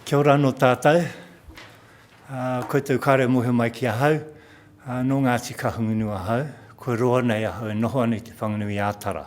Kia ora anō tātou. Uh, koutou kāre mohe mai ki ahau. Uh, nō Ngāti Kahungunu ahau. Kua roa nei ahau e noho ana i te Whanganui Ātara.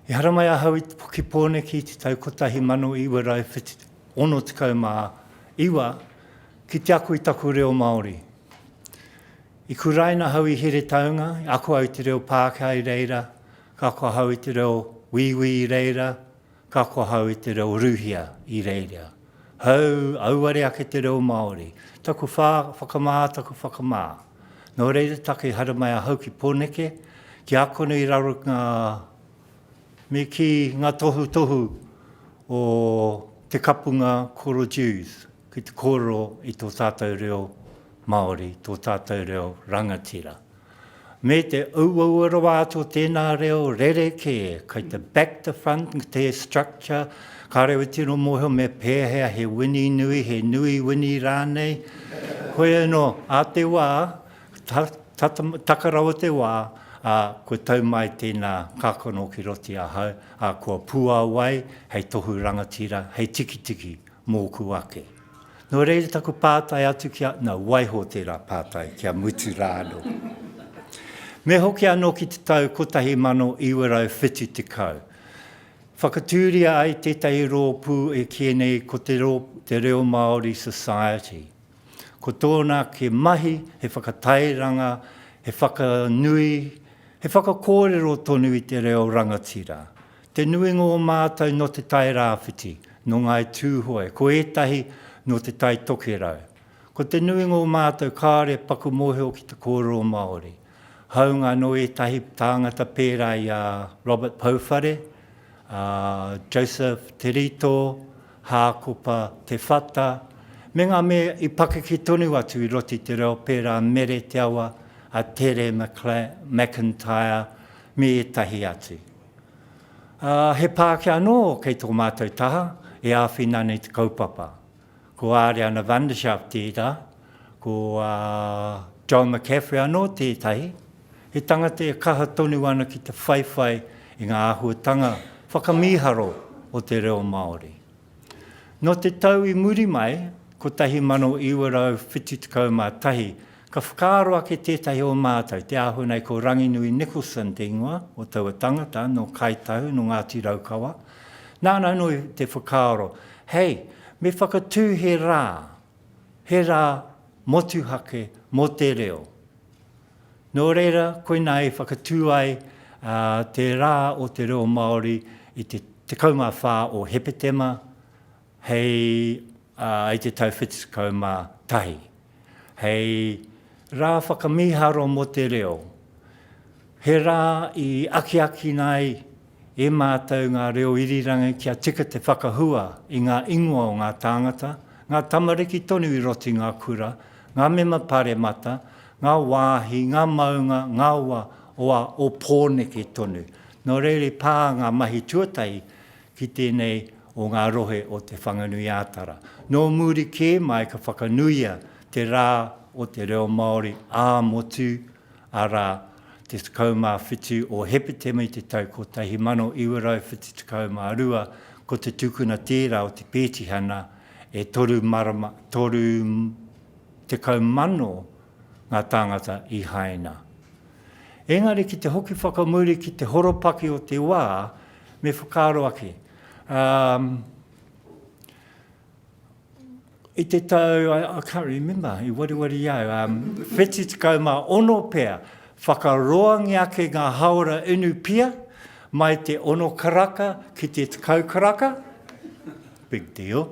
I haramai ahau i te poki pōneki i te tau 1969 ki te aku i taku reo Māori. I kuraina ahau i Heretaunga, i ako au te reo Pākehā i reira, Ka kohau i te reo Wīwī i reira, ka kohau i te reo Ruhia i reira. Hou, auare ake te reo Māori. Taku whā, whakamā, taku whakamā. Nō reira take i haere mai ahau ki Pōneke, ki Ākona i raro ngā, me kī, ngā tohutohu o te kapunga Koro Dewes ki te kōrero i tō tātou reo Māori, tō tātou reo rangatira. me te auaua rawa atu o tēnā reo rerekē, kei te back to front, te structure, ka reo e tino mōhio me pēhea he wini nui, he nui wini rānei. Koe anō, a te wā, ta, ta, taka rawa te wā, a, kua tau mai tēnā kākano ki roti ahau, a, kua puawai hei tohu rangatira, hei tikitiki mōku ake. Nō reira taku pātai atu ki a, nā, waiho tērā pātai ki a Mutu rā anō. Me hoki anō ki te tau 1970, whakatūria ai tētahi rōpū e kī nei ko te, te Reo Māori Society. Ko tōna ke mahi he whakatairanga, he whakanui, he whakakōrero tonu i te reo rangatira. Te nuinga o mātou nō Te Tai Rāwhiti, nō Ngāi Tūhoe, ko ētahi nō Te Tai Tokerau. Ko te nuinga o mātou kāore e paku mōhio ki te kōrero Māori, hāunga nō ētahi tāngata pērā i a Robert Pouwhare, a Joseph Te Rito, Hākopa Te Whata, me ngā mea i pakeke tonu atu i roto i te reo pērā Mere Te Awa, a Tere McIntyre, me ētahi atu. Ā, he Pākehā anō kei tō mātou taha e āwhina ana i te kaupapa. Ko Āreana Vanderschaaf tērā, ko John McCaffrey anō tētahi, he tangata e kaha tonu ana ki te whaiwhai i ngā āhuatanga whakamīharo o te reo Māori. Nō te tau i muri mai, 1971, ka whakaaro ake tētahi o mātou, te āhua nei ko Ranginui Nicholson te ingoa o taua tangata, nō Kāi Tahu, nō Ngāti Raukawa, nāna anō i te whakaaro, hei, me whakatū he rā, he rā motuhake mō te reo. Nō reira, koinā i whakatū ai te Rā o te Reo Māori i te 14 o Hepetema hei i te tau 71, hei Rā Whakamīharo mō te Reo, he rā i akiakina ai, E mātou ngā reo irirangi kia tika te whakahua i ngā ingoa o ngā tāngata, ngā tamariki tonu i roto i ngā kura, ngā mema paremata, ngā wāhi, ngā maunga, ngā wa, oa, o Pōneke tonu. Nō reira i pā ngā mahi tuatahi ki tēnei o ngā rohe o Te Whanganui-ā-Tara. Nō muri kē mai ka whakanuia te rā o te reo Māori ā-motu arā, te 17 o Hepetema i te tau 1972, ko te tūkuna tērā o te pētihana, e toru marama, toru tekau mano ngā tāngata i haina. Engari ki te hoki whakamuri ki te horopaki o te wā, me whakaaro ake, ā, I te tau, I, I can't remember, i wariwari au, um, wheti tekau mā ono pea, whakaroangi ake ngā haora inu pia, mai te ono karaka ki te tekau karaka, big deal.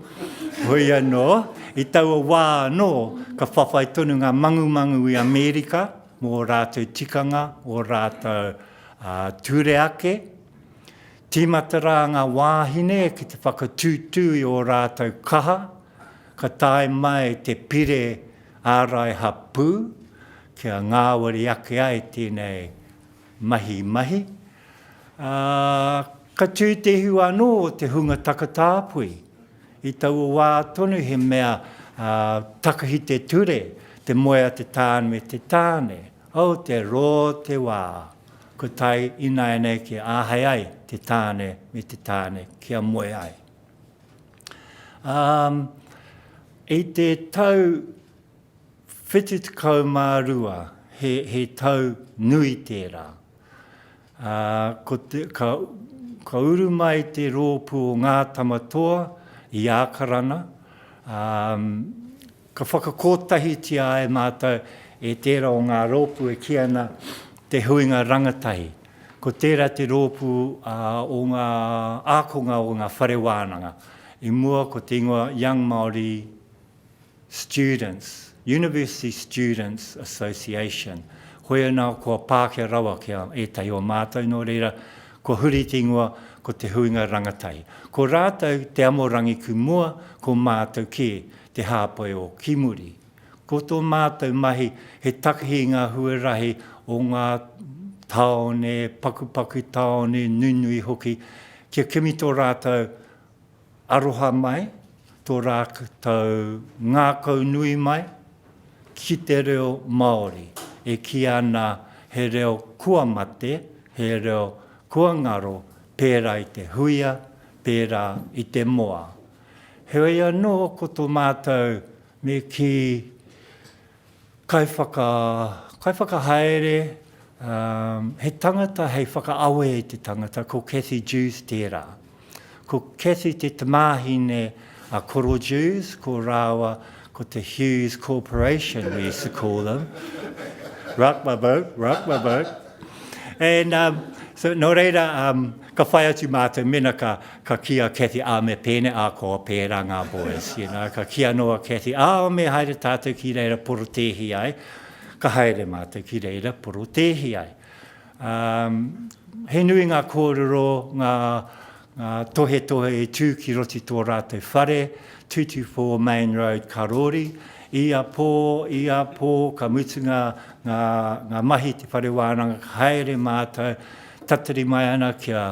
Hoi anō, i taua wā anō, ka whawhai tonu ngā mangumangu i Amerika mō rātou tikanga, o rātou uh, ture ake. Tīmata rā ngā wāhine ki te whakatūtū i ō rātou kaha, ka tae mai te pire ārai hapū kia ngāwari ake ai tēnei mahi mahi, ā, ka tū te ihu anō o te hunga takatāpui. I taua wā tonu he mea takahi te ture, te moe a te tāne me te tāne. Oh, te rō te wā! Kua tae ināianei kia āhei ai te tāne me te tāne kia moe ai. Um, i te tau 72, he, he tau nui tērā. Uh, ko te, ka, ka uru mai te rōpū o Ngā Tamatoa i Ākarana, um, Ka whakakotahitia e mātou e tērā o ngā rōpū e kī ana Te Huinga Rangatahi. Ko tērā te rōpū o ngā ākonga o ngā whare wānanga. I mua ko te ingoa Young Māori Students, University Students Association. Hoi anā kua pākia rawa ki a ētahi o mātou, nō reira, kua huri te ingoa ko Te Huinga Rangatahi. Ko rātou te amorangi ki mua, ko mātou kē. Te Hāpai o Kimuri. Ko tō mātou mahi he takihi i ngā huarahi o ngā tāone, pakupaku tāone, nunui hoki, kia kimi tō rātou aroha mai, tō rātou ngākau nui mai ki te reo Māori e kī ana he reo kua mate, he reo kua ngaro pērā i te huia, pērā i te moa. Heoi anō, ko tō mātou me kī, kaiwhakahaere, he tangata hei whakaawe i te tangata, ko Cathy Dewes tērā. Ko Cathy te tamāhine a Koro Dewes, ko rāua Ko te Hughes Corporation, we used to call them. Rock my boat, rock my boat. And um, so, nō reira, um, ka whai atu mātou mena ka, ka ki a Kathy, ā, me pēne, ā, ko a pērā ngā boys, you know, ka ki anō a Kathy, ā, me haere tātou ki reira porotēhi ai, ka haere mātou ki reira porotēhi ai. Ā, he nui ngā kōrero, ngā, ngā tohetohe i tū ki roto i tō rātou whare, 224 Mayne Road, Karori. Ia pō, ia pō, ka mutu ngā, ngā, ngā mahi i te whare wānanga, ka haere mātou, tatari mai ana ki a,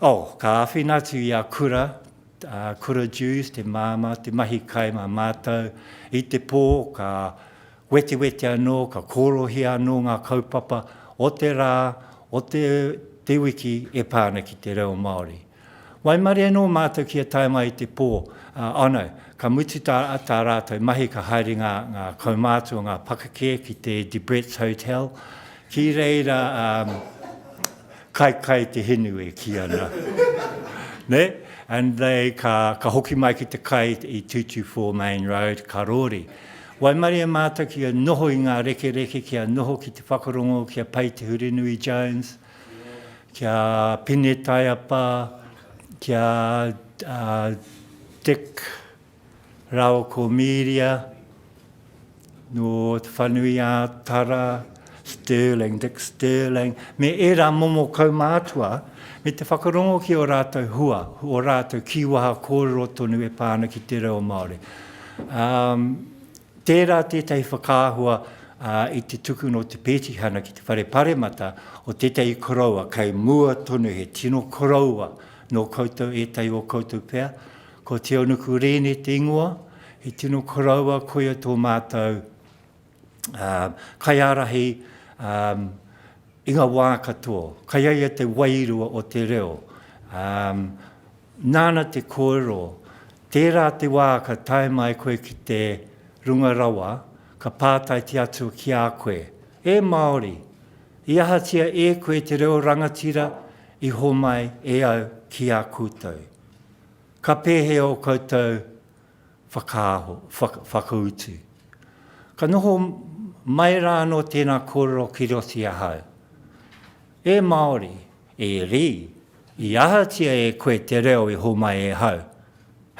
oh, ka āwhina atu i a Kura, ā, Kura Dewes, te māmā, te mahi kai mā mātou. I te pō, ka, Wetiweti anō, ka kōrohia anō ngā kaupapa o te rā, o te, te wiki e pā ana ki te reo Māori. Waimarie anō mātou kia tae mai i te pō, ā, ano, ka mutu tā, tā rātou mahi ka haere ngā, ngā kaumātua, ngā pakake ki te De Bretts Hotel, ki reira, ā, kai, kai te hinu e kī ana. Nē? And they, ka, ka hoki mai ki te kai i 224 Main Road, ka rori. Waimarie mātou ki a noho i ngā rekereke ki a noho ki te whakarongo ki a Pai Te Hurinui Jones, ki a Pine Taiapa, ki a Dick rāua ko Mīria, nō Te Whanui-ā-Tara, Stirling, Dick Stirling, me ērā momo kaumātua, me te whakarongo ki ō rātou hua, ō rātou kīwaha kōrero tonu e pā ana ki te reo Māori. Um, tērā tētahi whakaahua uh, i te tuku no te pētihana ki te whare paremata o tētahi koroua kei mua tonu he tino koroua no koutou ētahi o koutou pea. Ko Teonuku Rēne te ingoa, he tino koroua koia tō mātou kaiārahi i ngā wā katoa. Kai a ia te wairua o te reo. Nāna te kōrero, tērā te wā ka tae mai koe ki te Runga Rawa, ka pātaiti atu ki a koe, E Māori, i ahatia e koe te reo rangatira i homai e au ki a koutou? Ka pēhea ō koutou whakaaho, whaka, whakautu. Ka noho mai rā anō tēnā kōrero ki roto i ahau. E Māori, e Rī, i ahatia e koe te reo i homai e hau,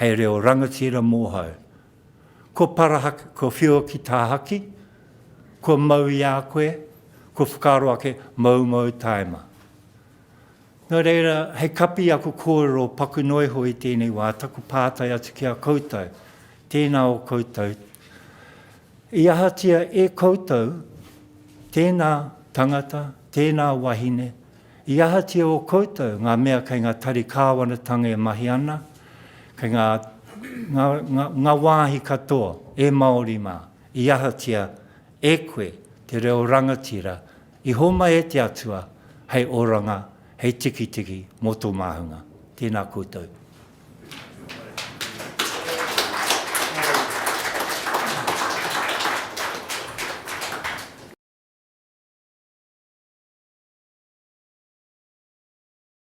hei reo rangatira mōhau? Ko Parahaki, ko Whioki Tāhaki, kua mau i a koe, kua whakaaro ake, moumou taima. Nō reira, hei kapi aku kōrero paku noa iho i tēnei wā, taku pātai atu ki a koutou, tēnā o koutou, i ahatia e koutou tēnā tangata, tēnā wahine, i ahatia o koutou ngā mea kei ngā tari kāwanatanga e mahi ana, kei ngā, ngā, ngā, ngā wāhi katoa e Māori mā, i ahatia e koe te reo rangatira I homai e te Atua hei oranga, hei tikitiki mo to mahunga. Tena koutou.